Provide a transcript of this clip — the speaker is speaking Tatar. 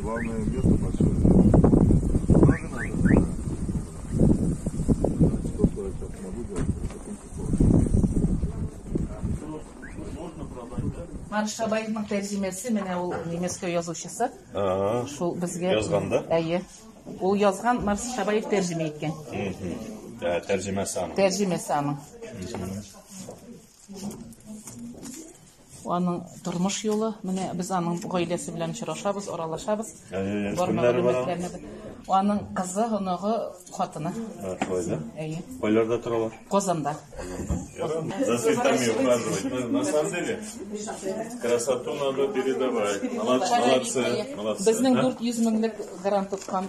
Главное место большое. Марш Шабаевның тәрҗемәсе менә ул немецкий язучысы. Шул безгә язганда. Әйе. Ул язган Марш Шабаев тәрҗемә иткән. Тәрҗемәсе аның. Тәрҗемәсе аның. Аның тормыш юлы, менә без аның гаиләсе белән очрашабыз, аралашабыз. Аның кызы, оныгы, хатыны. Шулай да? Әйе. Кайларда торалар? Казанда. За цветами ухаживать. На самом деле, красоту надо передавать. Молодцы, молодцы. Безнең 400 меңлек гарант тоткан